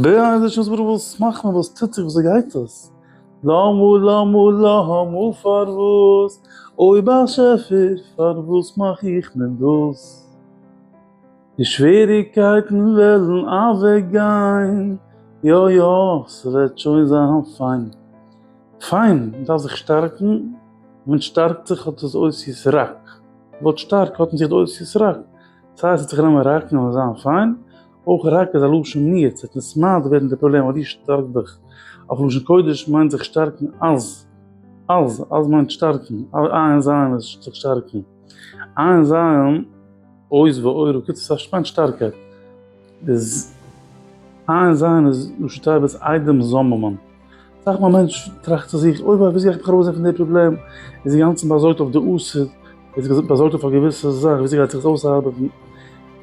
בעזה ש ס'וואס וואס מאכט מען וואס טוט זיך וואס גייט עס? למה למה למה פארוואס אוי באשעפער פארוואס מאך איך מען דאס? די שוועריקייטן וועלן אוועק גיין יא יא ס'וועט שוין זיין פיין פיין מ'דארף זיך שטארקן ווען שטארקט זיך האט עס אויס יס רק ווארט שטארק האט אין זיך די אויס יס רק ס'הייסט עס האט זיך גענומען ראקן און זיין פיין אויך רק איז א לשון מיעוט, ס'וועט נישט מעט ווערן די פראבלעם אז דו שטארק דיך. אויף לשון קודש מיינט זיך שטארקן אז. אז, אז מיינט שטארקן, עיין זיין איז זיך שטארקן. עיין זיין, עוז ועורו, קיצור ס'מיינט שטארקייט. איז, עיין זיין איז ראשי תיבות איידעם זאממען. אסאך מאל מענטש טראכט צו זיך, אוי וויי וויאזוי גייך מיך ארויסזען פון די פראבלעם, איז אינגאנצן באזארגט אויף די עתיד, איז באזארגט אויף א געוויסע זאך וויאזוי גייט זיך עס אויסארבעטן,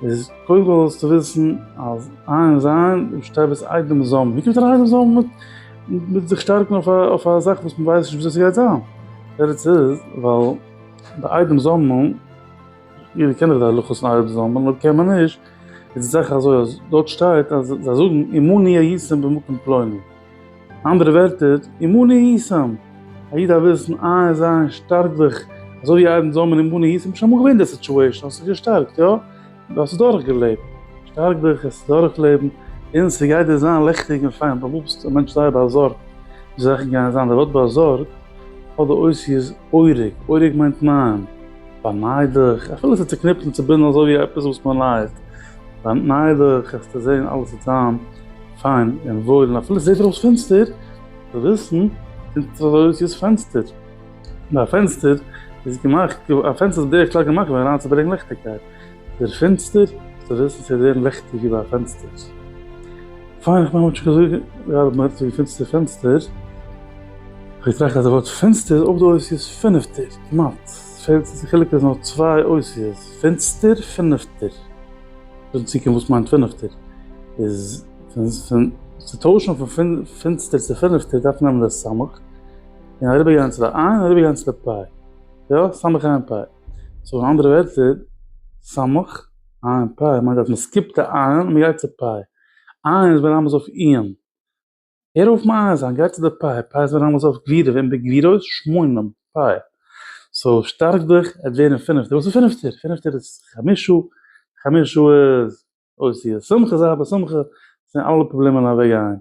איז קודם כל זאלסטו וויסן אז עיין זיין שטייבעס איידעם זאמד, ווי קומט אריין איידעם זאמד מיט זיך שטארקן אויף א זאך וואס מען ווייסט נישט וויאזוי ס'גייט זיין, די תירוץ איז ווייל די איידעם זאמד. יעדער קען דאך די הלכות נייערע זאמען, אויב קען מען נישט, איז די זאך אזוי אז דארט שטייט אז זיי זאגן אמוני היסם במקום פלוני. אנדערע ווערטער, אמוני היסם! א איד דארף וויסן איין זיין שטארק זיך, אזוי ווי איידן זאמען אמוני היסם, ביסט שוין אמאל געווען אין די סיטואשען, האסט זיך געשטארקט, יא? דו האסט עס דורך געלעבט. שטארק דיך עס דורך לעבן, און ס'גייט דיר זיין לעכטיג און פיין, דו בוסט א מענטש זייער באזארגט ווי זאכן גייען זיין, די ווארט באזארגט האט די אותיות אורג, אורג מיינט ניין. באניידעך, אפילו ס'איז צוקניפט און צובינדן אזוי ווי עפעס וואס מען לייעט, באניידעך וועסטו זען אלעס וועט זיין פיין און וואויל און אפילו ס'זעט אויס פינסטער, זאלסטו וויסן, קומט עס אזוי אויס ווי עס פענסטער, ווייל א פענסטער איז געמאכט, א פענסטער איז בדרך כלל געמאכט געווארן אריינצוברענגן ליכטיגקייט, דער פינסטער, וועסטו וויסן ס'וועט ווערן ליכטיג ווי ביי א פענסטער. פיין, איך מיין מ'האט שוין געזאגט גראדע מען רעדט וועגן פינסטער פענסטער, כ'האב געטראכט אז די ווארט פינסטער איז אויך דא אויס ווי עס פינפטער. כמעט. עס פעלט זיך די חילוק איז נאר צוויי אותיות, פינצטער, פינפטער. דארט צו קומט וואס מיינט פינפטער. איז פון צו טוישן פון פינצטער צו פינפטער דארף מען נעמען די סמך און אריבער גיין צו די עין און אריבער גיין צו די פאי. יא, סמך עין פאי. סאו אין אנדערע ווערטער, סמך עין פאי מיינט אז מען סקיפט די עין און מען גייט צו פאי. עין איז ברמז אויף איען. הער אויף מאיר זיין גיי צו די פיי, פיי איז ווען אלעס אויף גלידה ווען די גלידות שמונים פיי, סאו שטארק דיך עט ווערן פינפטער, וואס איז פינפטער? פינפטער איז חמישו, חמישו איז אוי סי איז שמחה זיי בשמחה, זענען אלע פראבלעמען אוועק גיין,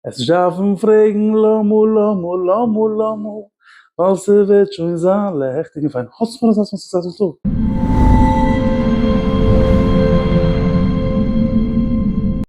עס נישט דארפן פרעגן למה למה למה למה, ווייל ס'וועט שוין זיין לעכטיג און פיין, האסט פאר אזא סוקסעספול טאג.